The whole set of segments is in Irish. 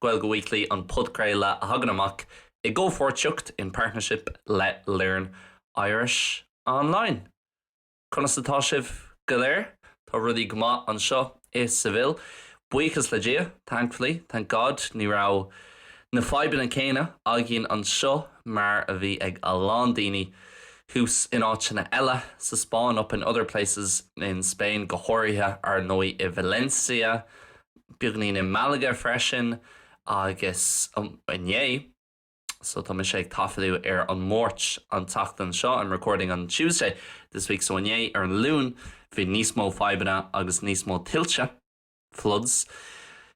Gaeilge Weekly an podchraoladh a thagann amach i gcomhpháirtíocht, in partnership, le Learn Irish Online. Conas atá sibh go léir? Tá rudaí go maith anseo i Seville, buíochas le Dia, thankfully, thank God, ní raibh na fadhbanna céanna againn anseo mar a bhí ag a lán daoine thuas in áiteanna eile, sa Spáinn, up in other places, in Spain, go háirithe, ar ndóigh, i Valencia, beagáinín in Malaga freisin agus inné so tá mise ag taifeadadh ar an Máirt an tseachtain seo I'm recording on Tuesday this week so inné ar an Luan bhí níos mó fadhbanna agus níos mó tuilte floods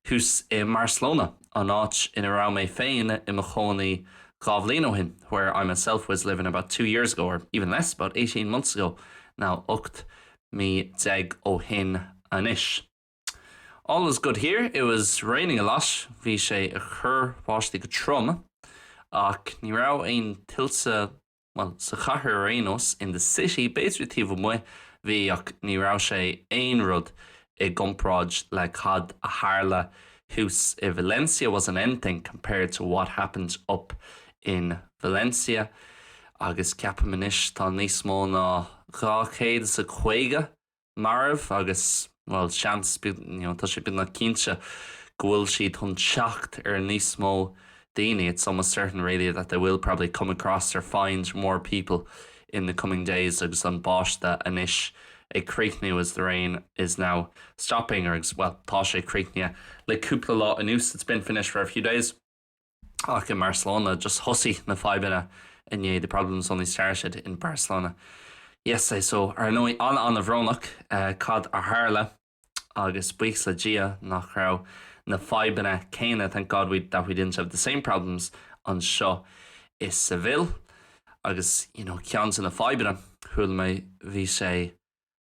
thuas in Barcelona an áit ina raibh mé féin i mo chónaí dhá bhliain ó shin where I myself was living about two years ago or even less about eighteen months ago now 18 mí ó shin anois. All was good here, it was raining a lot, bhí sé ag cur báistí go trom, ach ní raibh aon tuilte, bhuel, sa chathair ar aon nós, in the city, b'fhéidir taobh amuigh, bhí, ach ní raibh sé aon rud i gcomparáid le cad a tharla thuas i Valencia wasn't anything compared to what happened up in Valencia, agus ceapaim anois tá níos mó ná dhá chéad is a caoga marbh agus, bhuel, seans, you know, tá sé beagnach cinnte go bhfuil siad chun teacht ar níos mó daoine, it's almost certain really that they will probably come across or find more people in the coming days agus an báisteadh anois ag críochnú as the rain is now stopping or bhuel, tá sé críochnaithe le cúpla lá anuas, it's been finished for a few days. ach in Barcelona just thosaigh na fadhbanna inné the problems only started in Barcelona. yesterday so ar ndóigh an-an-bhrónach cad a tharla agus buíochas le Dia nach raibh na fadhbanna céanna thank God that we didn't have the same problems anseo i Seville. Agus you know ceann de na fadhbanna chuala mé bhí sé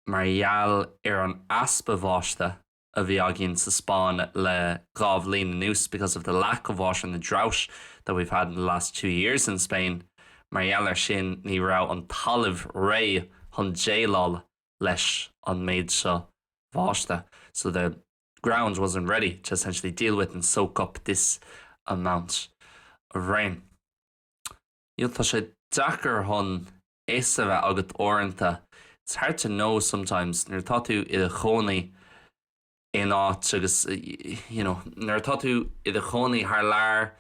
mar gheall ar an easpa báistí a bhí againn sa Spáinn le dhá bhliain anuas because of the lack of water and the drought that we've had in the last two years in Spain. Mar gheall ar sin, ní raibh an talamh réidh chun déileáil leis an méid seo bháiste so the ground wasn't ready to essentially deal with and soak up this amount of rain. You know tá sé deacair chun. fhios a bheith agat uaireanta, it's hard to know sometimes, nuair atá tú i do chónaí in áit agus, you know, nuair atá tú i do chónaí thar lear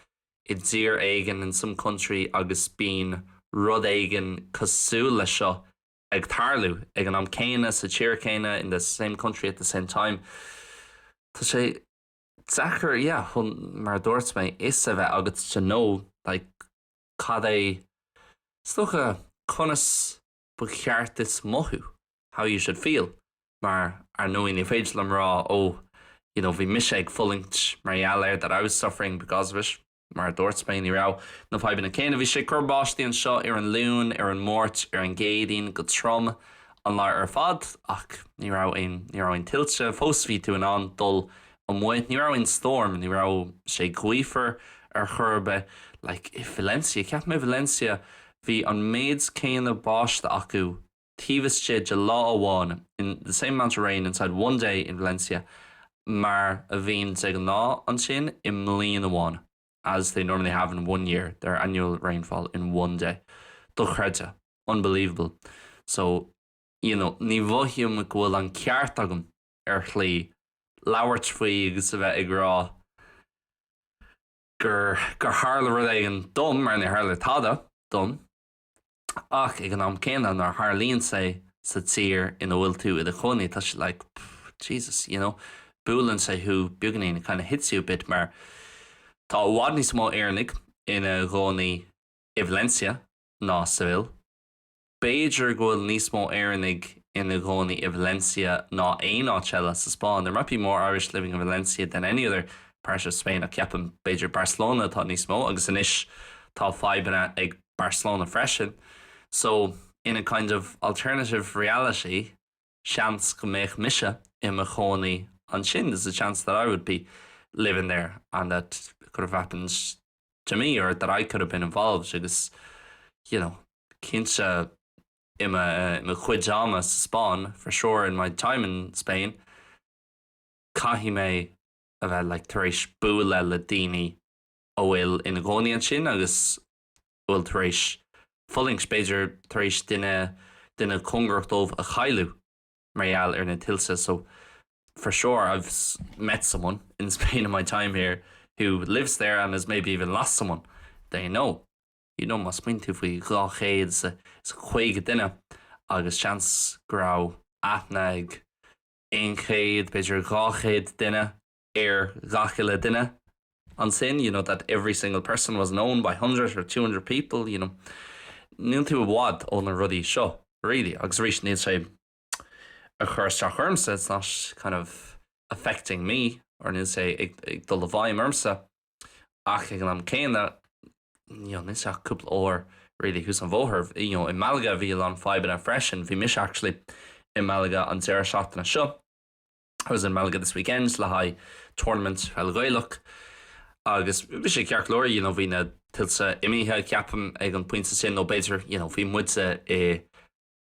i dtír éigin, in some country, agus bíonn rud éigin cosúil leis seo ag tarlú ag an am céanna, sa tír céanna, in the same country at the same time, tá sé deacair, yeah, mar a dúirt mé, fhios a bheith agat, to know, like. Cad é is dócha, Conas ba cheart duit mothú? How you should feel. Mar, ar ndóigh, ní féidir liom rá, oh, you know, bhí mise ag fulaingt mar gheall air, that I was suffering because of it. Mar a dúirt mé, ní raibh na fadhbanna céanna. Bhí sé ag cur báistí anseo ar an Luan, ar an Máirt, ar an gCéadaoin, go trom an lá ar fad, ach ní raibh aon, ní raibh aon tuilte. Fós bhí tú in ann dul amuigh. Ní raibh aon storm, ní raibh sé gaofar ar chor ar bith. Like i Valencia, ceapaim i Valencia, bhí an méid céanna báistí acu taobh istigh de lá amháin, in, the same amount of rain inside one day in Valencia, mar a bhíonn de ghnáth ansin i mbliain amháin, as they normally have in one year, their annual rainfall in one day. Dochreidte. Unbelievable. So, you know, ní mhothaím go bhfuil an ceart agam. ar shlí, labhairt faoi agus a bheith ag rá gur tharla rud éigin dom, mar níor tharla tada dom, ach ag an am céanna nuair a tharlaíonn sé sa tír ina bhfuil tú i do chónaí tá sé like pff Jesus you know buaileann sé thú beagainín it kind of hits you a bit mar tá i bhfad níos mó Éireannaigh ina gcónaí i Valencia ná Seville. B'fhéidir go bhfuil níos mó Éireannaigh ina gcónaí i Valencia ná aon áit eile sa Spáinn, there might be more Irish living in Valencia than any other part of Spain, ach ceapaim, b'fhéidir Barcelona atá níos mó, agus anois tá fadhbanna ag Barcelona freisin, so in a kind of alternative reality, seans go mbeidh mise i mo chónaí ansin there's a chance that I would be living there and that it could have happened to me or that I could have been involved agus you know cinnte i mo chuid ama sa Spáinn for sure in my time in Spain caithfidh mé a bheith like tar éis bualadh le daoine a bhfuil ina gcónaí ansin agus bhfuil tar éis fulaingt, b'fhéidir tar éis duine, duine cóngarach dóibh a chailliú mar gheall ar na tuilte. So for sure I've met someone in Spain in my time here who lives there and has maybe even lost someone they know. You know má smaoiníonn tú faoi dhá chéad is a caoga duine agus seans go raibh aithne ag aon chéad, b'fhéidir dhá chéad duine. ar ghach uile duine ansin, you know that every single person was known by hundred or two hundred people, you know. Níl tú i bhfad ó na rudaí seo really agus arís níl sé ag cur isteach ormsa, it's not kind of affecting me or níl sé ag, ag dul i bhfeidhm ormsa ach ag an am céanna you know, níl sé ach cúpla uair really thuas an bhóthar you know, i Malaga bhí an fadhbanna freisin, bhí mise actually i Malaga an deireadh seachtaine seo I was in Malaga this weekend le haghaidh tournament peil Ghaelach agus bhí sé ceart go leor you know bhí na tuilte imithe ceapaim ag an pointe sin nó b'fhéidir you know bhí muide i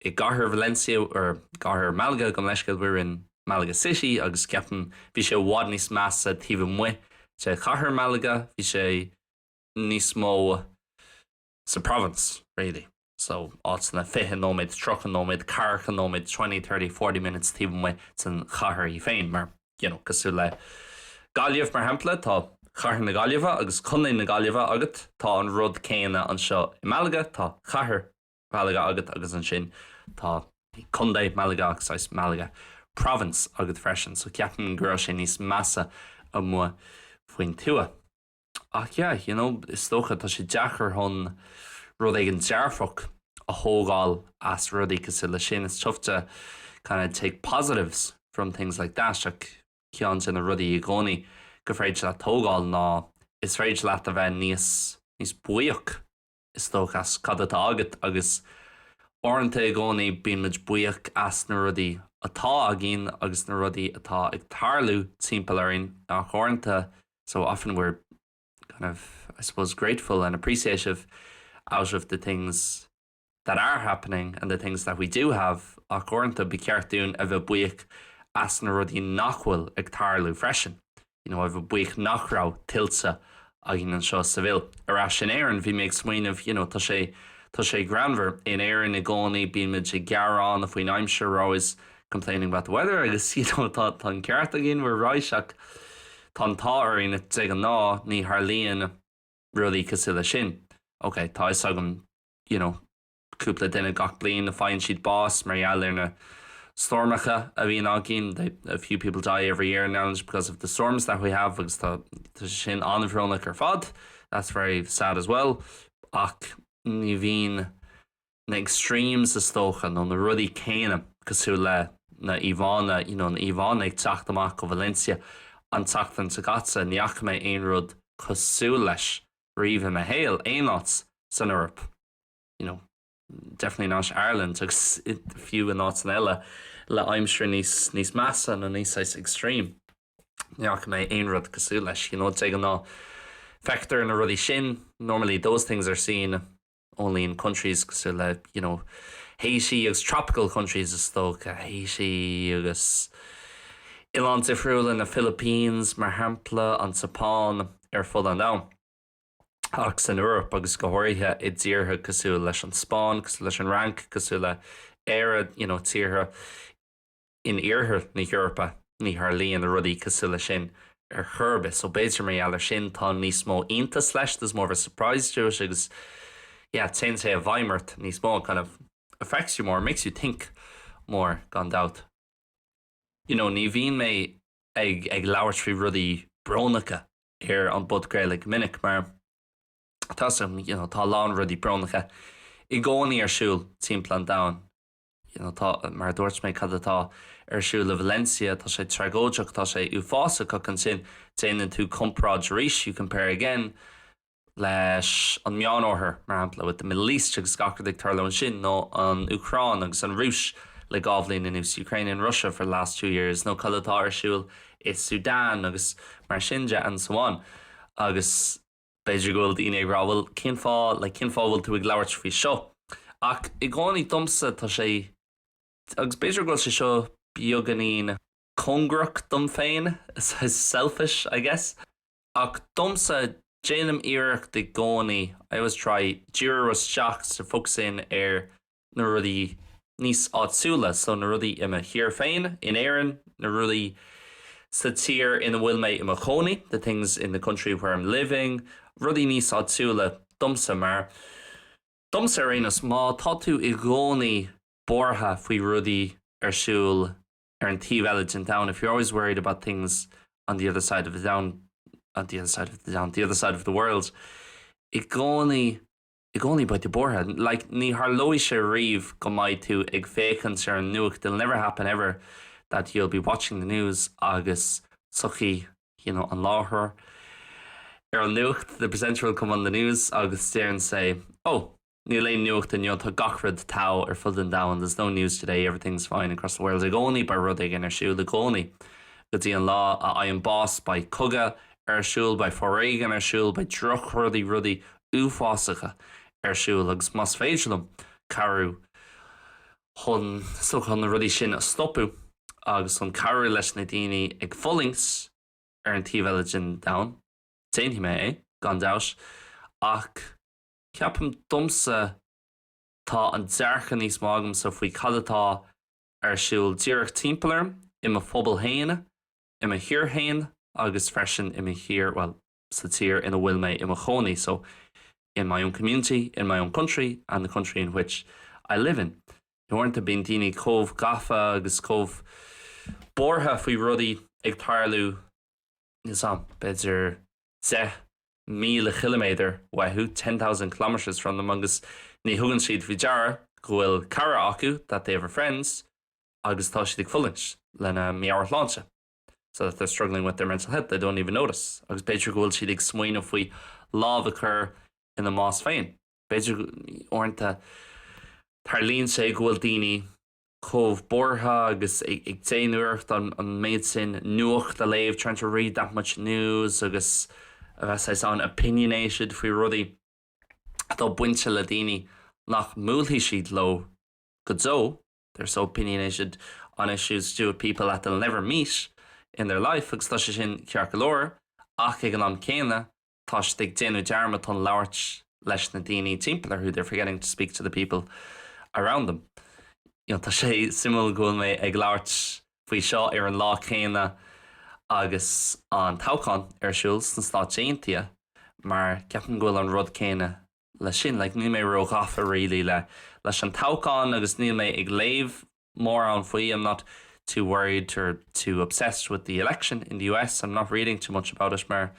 i gcathair Valencia or gcathair Malaga gabh mo leithscéal we were in Malaga City agus ceapaim bhí sé i bhfad níos measa taobh amuigh de chathair Malaga bhí sé níos mó sa province, really. So, áiteanna fiche nóiméad, tríocha nóiméad, ceathracha nóiméad, twenty, thirty, forty minutes, taobh amuigh don chathair í féin, mar, you know, cosúil le Gaillimh, mar shampla, tá Cathair na Gaillimhe agus Contae na Gaillimhe agat, tá an rud céanna anseo i Malaga, tá Cathair Mhalaga agat agus ansin tá Contae Mhalaga agus Malaga Province agat freisin, so ceapaim go raibh sé níos measa amuigh faoin tuath. Ach yeah, you know, is dócha tá sé deacair chun rud éigin dearfach a thógáil as rudaí cosúil leis sin. It's tough to kind of take positives from things like that ach ceann de na rudaí i gcónaí gur féidir leat tógáil ná is féidir leat a bheith níos, níos buíoch. is dócha, as cad atá agat agus uaireanta i gcónaí bíonn muid buíoch as na rudaí atá againn agus na rudaí atá ag tarlú timpeall orainn ach uaireanta so often we're kind of I suppose grateful and appreciative out of the things that are happening and the things that we do have ach uaireanta ba cheart dúinn a bheith buíoch as na rudaí nach bhfuil ag tarlú freisin. you know a bheith buíoch nach raibh tuilte againn anseo i Seville. Ar ais in Éirinn, bhí mé ag smaoineamh you know tá sé tá sé greannmhar, in Éirinn i gcónaí bíonn muid ag gearán faoin aimsir we're always complaining about the weather agus you know tá tá an ceart againn we're right ach tá an t-ádh orainn de ghnáth ní tharlaíonn rudaí cosúil leis sin. Ok tá fhios agam you know cúpla duine gach bliain a faigheann siad bás mar gheall ar na stoirmeacha a bhíonn againn, they, a few people die every year in Ireland because of the storms that we have agus tá sin an-bhrónach ar fad, that's very sad as well ach ní bhíonn na extremes is dócha nó na rudaí céanna cosúil le na íomhánna, you know, na íomhánna ag teacht amach ó Valencia an tseachtain seo caite, ní fhaca mé aon rud cosúil leis riamh i mo shaol, aon áit san Eoraip. you know, definitely not Ireland, agus fiú in áiteanna eile le haimsir níos, níos measa nó níos saghas extreme. Ní fhaca mé aon rud cosúil leis, you know, de ghnáth feictear na rudaí sin, normally those things are seen only in countries cosúil le, you know, Haiti agus tropical countries is dócha, Haiti agus oileáin difriúla, na Philippines mar shampla, an tSeapáin, ar fud an domhain. ach san Eoraip, agus go háirithe i dtíortha cosúil leis an Spáinn, cosúil leis an Fhrainc, cosúil le hÉire, you know tíortha in iarthar na hEorpa, ní tharlaíonn rudaí cosúil leis sin ar chor ar bith. So b'fhéidir mar gheall ar sin tá níos mó iontas leis, there's more of a surprise to it agus yeah téann sé i bhfeidhm ort níos mó, it kind of affects you more, makes you think more gan dabht. You know, ní bhíonn mé ag, ag labhairt faoi rudaí brónacha ar an bpodchraoladh go minic, mar tá sé, you know, tá a lán rudaí brónacha i gcónaí ar siúl timpeall an domhain. You know, tá, mar a dúirt mé, cad atá ar siúl i Valencia, tá sé tragóideach, tá sé uafásach, ach ansin déanann tú comparáid arís, you compare again. leis an Meánoirthear, mar shampla, with the Middle East, agus gach rud ag tarlú ansin, nó an Úcráin agus an Rúis le dhá bhliain anuas, Ukraine and Russia for the last two years, nó cad atá ar siúl i Sudan agus mar sin de and so on. Agus b'fhéidir go bhfuil daoine ag rá, bhuel, cén fáth, like, cén fáth a bhfuil tú ag labhairt faoi seo? Ach i gcónaí domsa tá sé, agus b'fhéidir go bhfuil sé seo beagáinín cóngarach dom féin, selfish, I guess, Ach domsa, déanaim iarracht i gcónaí, I always try, díriú isteach so focusing ar na rudaí níos áitiúla, so na rudaí i mo thír féin, in Éirinn, na rudaí sa tír ina bhfuil mé i mo chónaí, the things in the country where I'm living, rudaí níos áitiúla domsa, mar domsa ar aon nós, má tá tú i gcónaí buartha faoi rudaí ar siúl ar an taobh eile den domhan if you're always worried about things on the other side of the domhan on the other side of the domhan the other side of the world i gcónaí i gcónaí beidh tú buartha like ní tharlóidh sé riamh go mbeidh tú ag féachaint ar an nuacht it'll never happen ever that you'll be watching the news agus tiocfaidh you know an láithreoir ar an nuacht the presenter will come on the news agus deireann sé oh Níl aon nuacht inniu, tá gach rud togha ar fud an domhain, there's no news today, everything's fine across the world, i gcónaí beidh rud éigin ar siúl, i gcónaí, go dtí an lá a fhaighim bás, beidh cogadh ar siúl, beidh foréigean ar siúl, beidh drochrudaí, rudaí uafásacha ar siúl, agus más féidir liom cabhrú chun chun na rudaí sin a stopadh agus chun cabhrú leis na daoine ag fulaingt ar an taobh eile den domhan, déanfaidh mé é, gan dabht, ach. Ceapaim domsa, tá an dearcadh níos mó agamsa faoi cad atá ar siúl díreach timpeall orm, i mo phobal féin, i mo thír féin agus freisin i mo thír, bhuel, sa tír ina bhfuil mé i mo chónaí, so, in my own community, in my own country and the country in which I live in. Uaireanta bíonn daoine chomh gafa agus chomh buartha faoi rudaí ag tarlú, níl 's 'am, b'fhéidir deich míle chiliméadar uathu, ten thousand kilometres from them, agus ní thugann siad faoi deara go bhfuil cara acu, that they have a friend, agus tá siad ag fulaingt lena meabhairshláinte, so that they're struggling with their mental health, they don't even notice, agus b'fhéidir go bhfuil siad ag smaoineamh faoi lámh a chur ina mbás féin. B'fhéidir, uaireanta, tarlaíonn sé go bhfuil daoine. chomh buartha agus ag déanamh iarracht an méid sin nuacht a léamh, trying to read that much news, agus a bheith saghas an-opinionated faoi rudaí atá bainte le daoine nach mbuailfidh siad leo go deo, they're so opinionated on issues to do with people that they'll never meet in their life, agus tá sé sin ceart go leor, ach ag an am céanna, tá siad ag déanamh dearmad chun labhairt leis na daoine timpeall orthu they're forgetting to speak to the people around them you know tá sé suimiúil go bhfuil mé ag labhairt faoi seo ar an lá céanna agus an toghchán ar siúl sna Stáit Aontaithe mar ceapaim go bhfuil an rud céanna leis sin. Like níl mé ró ghafa really le leis an toghchán agus níl mé ag léamh mórán faoi, I'm not too worried or too obsessed with the election in the US, I'm not reading too much about it mar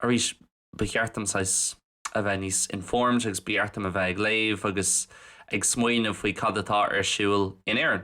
arís ba cheart dom saghas a bheith níos informed agus ba cheart dom a bheith ag léamh agus ag smaoineamh faoi cad atá ar siúl in Éirinn.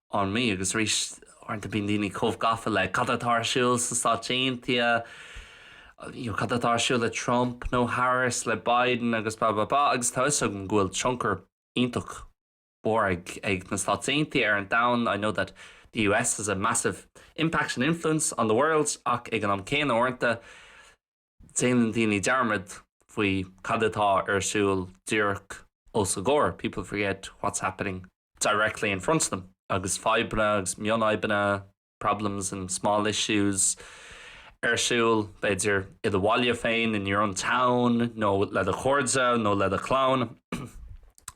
on me agus arís uaireanta bíonn daoine chomh gafa le cad atá ar siúl sna Stáit Aontaithe, you know, cad atá ar siúl le Trump nó Harris, le Biden agus blah blah blah agus tá 'fhios agam go bhfuil tionchar iontach mór ag ag na Stáit Aontaithe ar an domhan, I know that the US has a massive impact and influence on the world ach ag an am céanna uaireanta, Déanann daoine dearmad faoi cad atá ar siúl díreach os a gcomhair, people forget what's happening directly in front of them, agus fadhbanna agus mionfhadhbanna, problems and small issues, ar siúl, b'fhéidir, i do bhaile féin, in your own town, nó le do chairde nó le do chlann.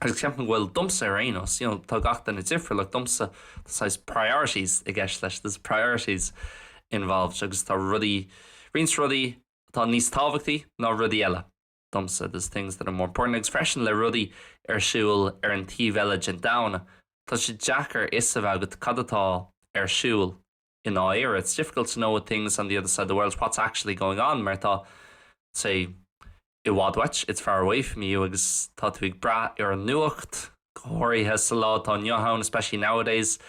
agus ceapaim go bhfuil, domsa ar aon nós, you know tá gach duine difriúil ach domsa tá saghas priorities i gceist leis, there's priorities involved agus tá rudaí, roinnt rudaí atá níos tábhachtaí ná rudaí eile domsa, there's things that are more important agus freisin le rudaí ar siúl ar an taobh eile den domhan tá sé deacair fhios a bheith agat cad atá ar siúl. i ndáiríre, it's difficult to know with things on the other side of the world what's actually going on mar tá sé i bhfad uait, it's far away from you, agus tá tú ag brath ar an nuacht, go háirithe sa lá atá inniu ann, especially nowadays.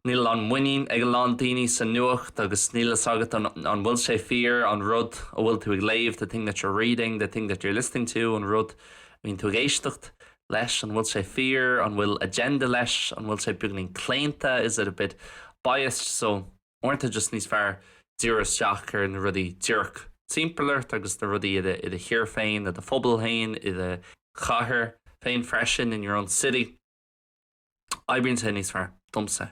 Níl a lán muinín ag a lán daoine sa nuacht agus níl fhios agat an bhfuil sé fíor, an rud a bhfuil tú ag léamh, the thing that you're reading, the thing that you're listening to, an rud a bhíonn tú ag éisteacht leis? An bhfuil sé fíor? An bhfuil agenda leis? An bhfuil sé beagainín claonta? Is it a bit biased? So, uaireanta just tá sé níos fearr díriú isteach ar na rudaí díreach timpeall ort agus na rudaí i do thír féin, i do phobal féin, i do chathair féin freisin, in your own city. Oibríonn sé níos fearr, domsa.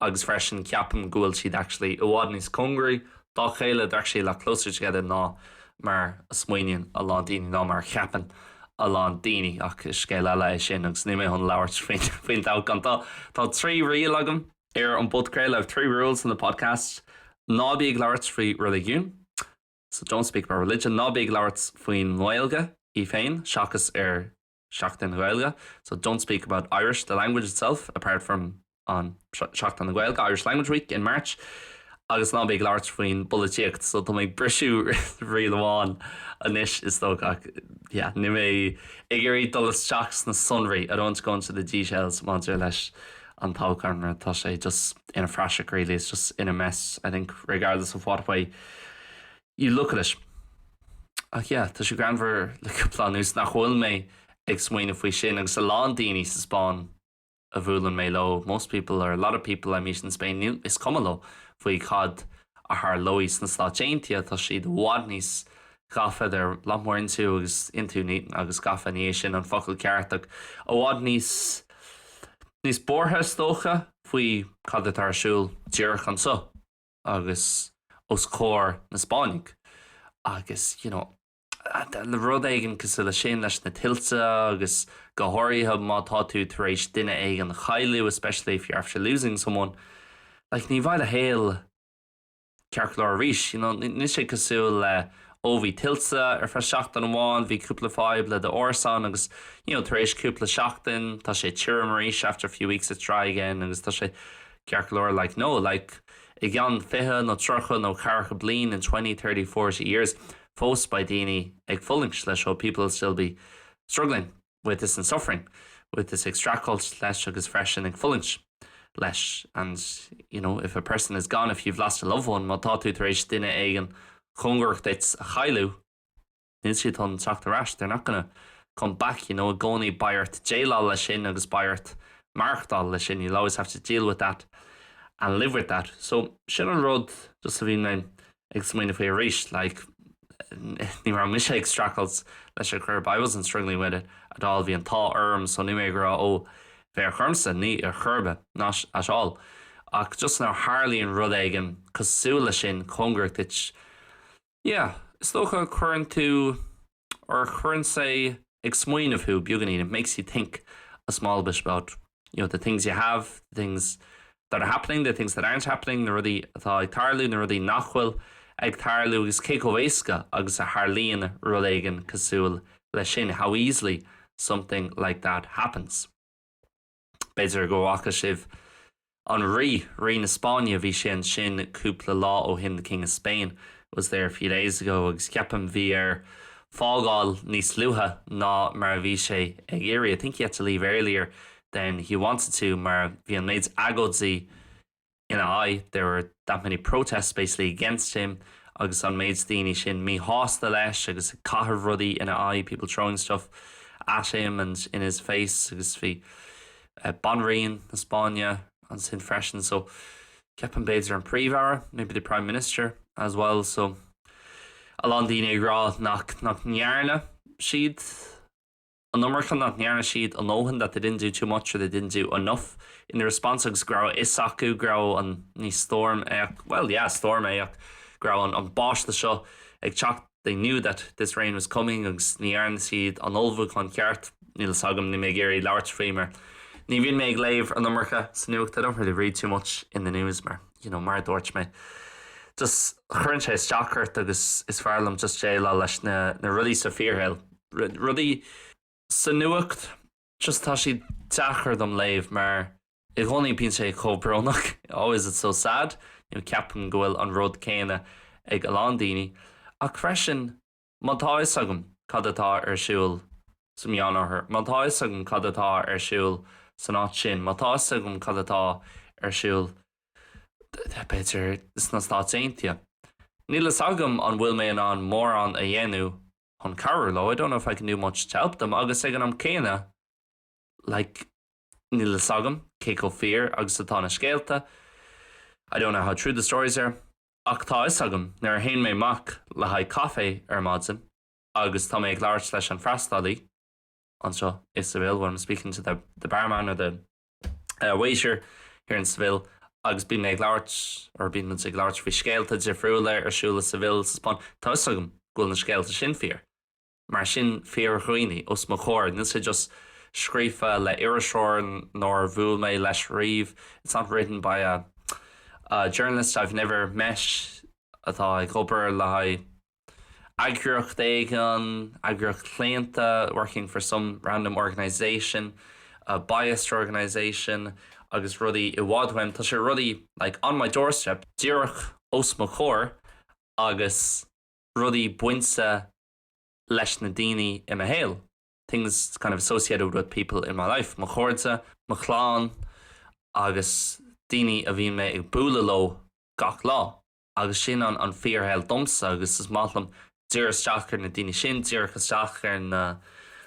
agus freisin ceapaim go bhfuil siad actually i bhfad níos cóngaraí dá chéile, they're actually a lot closer together ná mar a smaoiníonn a lán daoine, ná mar a cheapann a lán daoine, ach is scéal eile é sin agus níl mé chun labhairt faoin toghchán. Tá trí riail agam ar an bpodchraoladh, I have three rules on the podcast, Ná bí ag labhairt faoi reiligiún, so don't speak about religion, Ná bí ag labhairt faoin nGaeilge í féin seachas ar Seachtain na Gaeilge so don't speak about Irish, the language itself, apart from on Seachtain na Gaeilge, Irish Language Week, in March agus ná bí ag labhairt faoin bpolaitíocht so tá mé ag briseadh riail amháin anois, is dócha, ach yeah, níl mé ag iarraidh dul isteach sna sonraí, I don't want to go into the details maidir leis an toghchán mar tá sé just ina phraiseach really, it's just in a mess I think regardless of what way You look at it. Ach yeah, tá sé greannmhar le cúpla lá anuas nach bhfuil mé ag smaoineamh faoi sin agus a lán daoine sa Spáinn a mbuaileann mé leo, most people or a lot of people I meet in Spain, is cuma leo faoi cad a tharlóidh sna Stáit Aontaithe, tá siad i bhfad níos gafa, they're a lot more into agus into agus gafa, ní hé sin an focal ceart ach i bhfad níos, níos buartha is dócha faoi cad atá ar siúl díreach anseo. agus os comhair na Spáinnigh agus you know le rud éigin cosúil leis sin leis na tuilte agus go háirithe má tá tú tar éis duine éigin a chailliúint especially if you're after losing someone like ní bheidh do shaol ceart go leor arís you know níl sé cosúil le ó bhí tuilte ar feadh seachtain amháin bhí cúpla fadhb le do árasán agus you know tar éis cúpla seachtain tá sé tirim arís after a few weeks it's dry again agus tá sé ceart go leor like no like i gceann fiche nó tríocha nó ceathracha bliain in twenty, thirty, forty years fós beidh daoine ag fulaingt leis seo people will still be struggling with this and suffering with this ag streachailt leis agus freisin ag fulaingt leis and you know if a person is gone if you've lost a loved one má tá tú tar éis duine éigin cóngarach duit a chailleadh Níl siad chun teacht ar ais, they're not gonna come back, you know, i gcónaí beidh ort déileáil leis sin agus beidh ort maireachtáil leis sin, you'll always have to deal with that and live with that. So sin an rud just a bhí mé ag smaoineamh faoi arís, like ní raibh mise ag streachailt leis ar chor ar bith, I wasn't struggling with it at all, bhí an t-ádh orm so níl mé ag rá ó fear bocht ormsa, ní ar chor ar bith, not at all ach just nuair a tharlaíonn rud éigin cosúil leis sin, cóngarach duit, Yeah, is dócha, cuireann tú, or cuireann sé ag smaoineamh thú beagainín, it makes you think a small bit about you know the things you have, the things that are happening, the things that aren't happening, na rudaí atá ag tarlú, na rudaí nach bhfuil ag tarlú agus cé chomh éasca agus a tharlaíonn rud éigin cosúil leis sin, how easily something like that happens. B'fhéidir go bhfaca sibh An Rí, Rí na Spáinne, bhí sé ansin cúpla lá ó shin The King of Spain was there a few days ago agus ceapaim bhí air fágáil níos luaithe ná mar a bhí sé ag iarraidh I think he had to leave earlier than he wanted to mar bhí an méid agóidí ina aghaidh, there were that many protests basically against him agus an méid daoine sin míshásta leis agus ag caitheamh rudaí ina aghaidh, people throwing stuff at him and in his face agus bhí Banríon na Spáinne ansin freisin agus ceapaim b'fhéidir an Príomh-Aire, maybe the Prime Minister as well so a lán daoine ag rá nach ndearna siad. an iomarca nach ndearna siad a ndóthain that they didn't do too much or they didn't do enough in their response agus go raibh a fhios acu go raibh an, ní stoirm é ach, bhuel, yeah, stoirm é ach go raibh an, an báiste seo ag teacht they knew that this rain was coming agus ní dhearna siad an ullmhúchán ceart. Níl fhios agam, níl mé ag iarraidh labhairt faoi mar ní bhíonn mé ag léamh an iomarca sa nuacht I don't really read too much in the news mar, you know, mar a dúirt mé, just cuireann sé isteach ort agus is fearr liom just déileáil leis na, na rudaí sa bhfíorshaol. rudaí sa nuacht just tá siad deacair dom léamh mar i gcónaí bíonn sé chomh brónach always it's so sad you know ceapaim go bhfuil an rud céanna ag a lán daoine ach freisin má tá fhios agam cad atá ar siúl sa Meánoirthear má tá fhios agam cad atá ar siúl san áit sin má tá fhios agam cad atá ar siúl b'fhéidir sna Stáit Aontaithe níl fhios agam an bhfuil mé in ann mórán a dhéanamh chun cabhrú leo, I don't know if I can do much to help them agus ag an am céanna like níl fhios agam cé chomh fíor agus atá na scéalta I don't know how true the stories are ach tá fhios agam nuair a théann mé amach le haghaidh caife ar maidin agus tá mé ag labhairt leis an freastalaí anseo i Seville when I'm speaking to the the barman or the a Waiter here in Seville agus bíonn mé ag labhairt, or bíonn muid ag labhairt faoi scéalta difriúla ar siúl i Seville sa Spáinn, tá 'fhios agam go bhfuil na scéalta sin fíor, mar sin fíor-dhaoine os mo chomhair, níl sé just scríofa le iriseoir nár bhuail mé leis riamh, it's not written by a journalist I've never met atá ag obair le haghaidh. eagraíocht éigin, eagraíocht chlaonta working for some random organisation, a biased organisation agus rudaí i bhfad uaim, tá sé rudaí like on my doorstep, díreach os mo chomhair agus rudaí bainte leis na daoine i mo shaol things kind of associated with people in my life, mo chairde, mo chlann agus daoine a bhíonn mé ag bualadh leo gach lá. Agus sin an an fíorshaol domsa agus is maith liom díriú isteach ar na daoine sin, díreach isteach ar na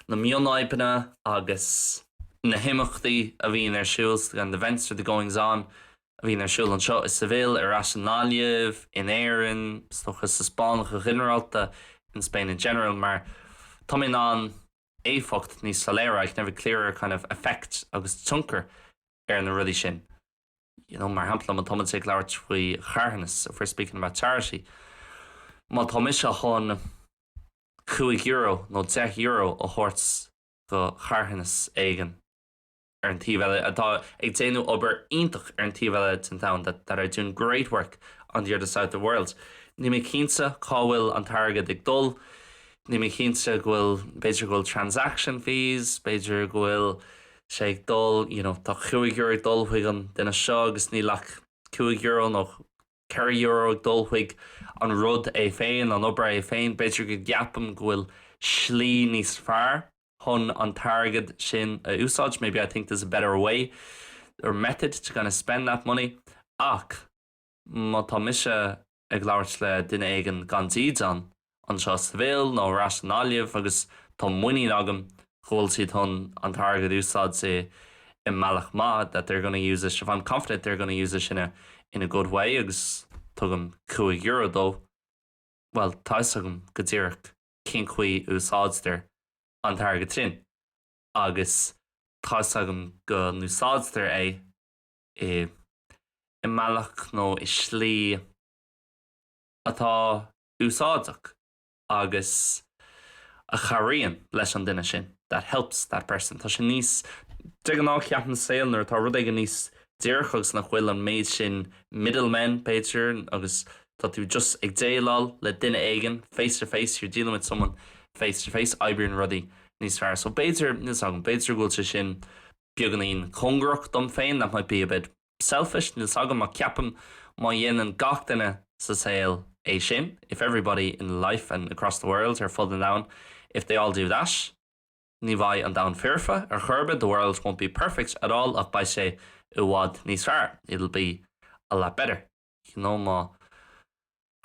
na mionfhadhbanna agus na himeachtaí a bhíonn ar siúl, the events or the goings on a bhíonn ar siúl anseo i Seville, ar ais i nGaillimh, in Éirinn, is dócha sa Spáinn go ginearálta, in Spain in general, mar tá mé in ann éifeacht níos soiléire, I can have a clearer kind of effect agus tionchar ar na rudaí sin. you know, mar shampla, má tá muid ag labhairt faoi charthanas, if we're speaking about charity, má tá mise chun cúig euro nó deich euro a thabhairt go charthanas éigin ar an taobh eile atá ag déanamh obair iontach ar an taobh eile den domhan that, that are doing great work on the other side of the world, níl mé cinnte cá bhfuil an t-airgead ag dul, níl mé cinnte go bhfuil, b'fhéidir go bhfuil transaction fees, b'fhéidir go bhfuil sé ag dul, you know, tá cúig euro ag dul chuig an duine seo agus níl ach cúig euro nó ceithre euro ag dul chuig an rud é féin, an obair é féin, b'fhéidir go gceapaim go bhfuil slí níos fearr chun an t-airgead sin a úsáid, maybe I think there's a better way or method to kind of spend that money ach má tá mise. ag labhairt le duine éigin gan dídean, anseo i Seville nó ar ais i nGaillimh, agus tá muinín agam go bhfuil siad chun an t-airgead a úsáid i i mbealach maith, that they're gonna use it, if I'm confident they're gonna use it in a in a good way, agus tugaim cúig euro dó, bhuel, tá 'fhios agam go díreach cén chaoi a úsáidtear an t-airgead sin, agus tá 'fhios agam go n-úsáidtear é, i mbealach nó i slí atá úsáideach agus a chabhraíonn leis an duine sin, that helps that person. Tá sé níos, de ghnáth ceapaim sa saol nuair atá rud éigin níos díreach agus nach bhfuil an méid sin middle men b'fhéidir agus tá tú just ag déileáil le duine éigin face to face, you're dealing with someone face to face, oibríonn rudaí níos fearr. So b'fhéidir, níl 's agam, b'fhéidir go bhfuil sé sin beagáinín cóngarach dom féin, that might be a bit selfish, níl 's agam ach ceapaim má dhéanann gach duine sa saol é sin, if everybody in life and across the world, ar fud an domhain, if they all do that, ní bheidh an domhan foirfe ar chor ar bith, the world won't be perfect at all, ach beidh sé i bhfad níos fearr, it'll be a lot better. You know, má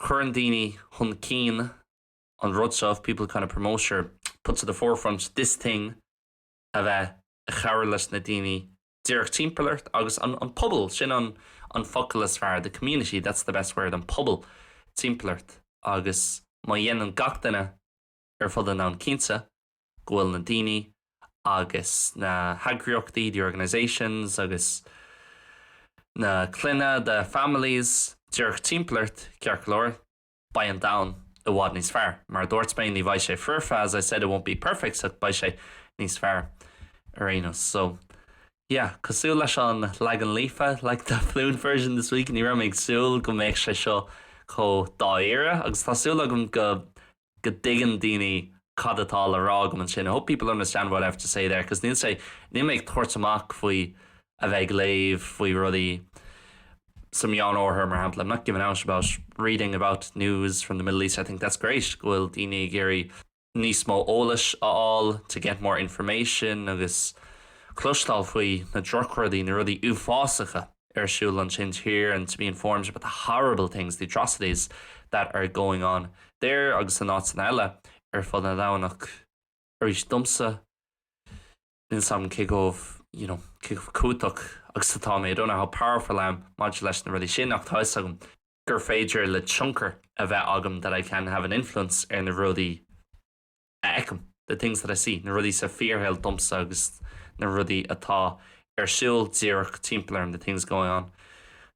chuireann daoine chun cinn an rud seo, if people kind of promote or put to the forefront this thing, a bheith ag cabhrú leis na daoine díreach timpeall ort agus an pobal, sin an focal is fearr, the community, that's the best word, an pobal timpeall ort agus má dhéanann gach duine ar fud an domhain cinnte go bhfuil na daoine agus na heagraíochtaí, the organisations, agus na clainne, the families, díreach timpeall ort ceart go leor. beidh an domhan i bhfad níos fearr. Mar a dúirt mé, ní bheidh sé foirfe, as I said it won't be perfect, ach beidh sé níos fearr ar aon nós. So, yeah, cosúil leis an leagan líofa, like the fluent version this week, ní raibh mé ag súil go mbeadh sé seo chomh dáiríre, agus tá súil agam go go dtuigeann daoine cad atá le rá agam ansin, I hope people understand what I have to say there, 'cause níl sé, níl mé ag tabhairt amach faoi. a bheith ag léamh faoi rudaí sa Meánoirthear, mar shampla, I'm not giving out about reading about news from the Middle East, I think that's great go bhfuil daoine ag iarraidh níos mó eolais a fháil, to get more information, agus cloisteáil faoi na drochrudaí, na rudaí uafásacha ar siúl ansin thoir, and to be informed about the horrible things, the atrocities that are going on there, agus in áiteanna eile ar fud an domhain, ach arís, domsa, níl 's agam cé chomh, you know, cé chomh cumhachtach agus atá mé, I don't know how powerful I am maidir leis na rudaí sin ach tá 'fhios agam gur féidir liom tionchar a bheith agam that I can have an influence ar na rudaí a fheicim the things that I see, na rudaí sa fíorshaol domsa agus na rudaí atá ar siúl díreach timpeall orm the things going on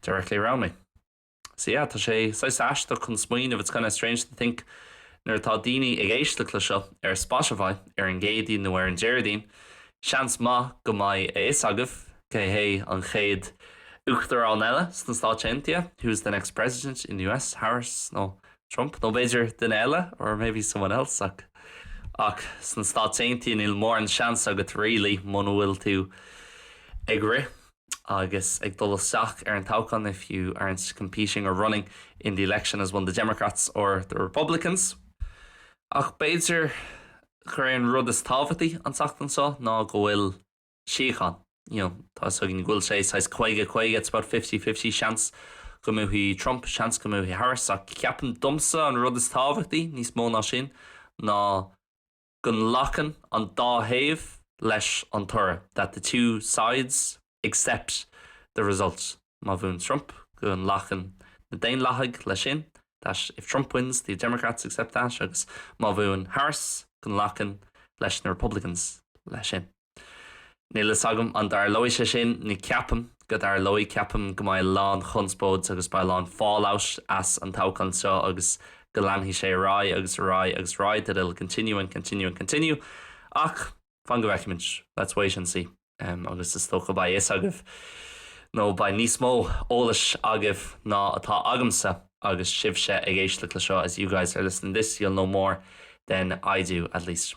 directly around me. So yeah, tá sé saghas aisteach chun smaoineamh, it's kinda strange to think, nuair atá daoine ag éisteacht le seo ar Spotify ar an gCéadaoin nó ar an Déardaoin, seans maith go mbeidh a fhios agaibh cé hé an chéad uachtarán eile sna Stáit Aontaithe, who is the next president in the US, Harris nó Trump, nó b'fhéidir duine eile, or maybe someone else, ach, ach sna Stáit Aontaithe níl mórán seans agat really muna bhfuil tú ag rith. Agus ag dul isteach ar an toghchán, if you aren't competing or running in the election as one the Democrats or the Republicans. Ach b'fhéidir gur é an rud is tábhachtaí an tseachtain seo ná go bhfuil síocháin, you know, tá fhios againn go bhfuil sé saghas caoga caoga, it's about fifty-fifty, seans go mbuafaidh Trump, seans go mbuafaidh Harris, ach ceapaim domsa an rud is tábhachtaí, níos mó ná sin, ná. go nglacann an dá thaobh leis an toradh that the two sides accept the result má bhuann Trump, go nglacann na Daonlathaigh leis sin that if Trump wins, the Democrats accept that agus má bhuann Harris, go nglacann leis na Republicans leis sin. Níl fhios agam an dtarlóidh sé sin, ní ceapaim go dtarlóidh. Ceapaim go mbeidh a lán chonspóid agus beidh a lán fallout as an toghchán seo agus go leanfaidh sé ar aghaidh agus ar aghaidh agus ar aghaidh, that it'll continue and continue and continue. Ach fan go bhfeicimid, let's wait and see. Agus is dócha beidh fhios agaibh, nó beidh níos mó eolais agaibh ná atá agamsa agus sibhse ag éisteacht le seo, as you guys are listening to this, you'll know more than I do, at least.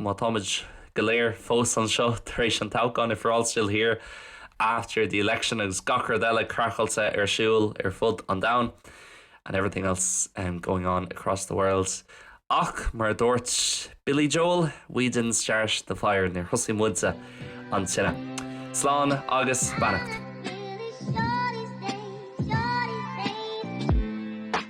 Má táimid go léir fós anseo tar éis an toghcháin, if we're all still here after the election agus gach rud eile craiceáilte ar siúl ar fud an domhain, and everything else am going on across the world. Ach mar a dúirt Billy Joel, we didn't start the fire, níor thosaigh muide an tine. Slán agus beannacht.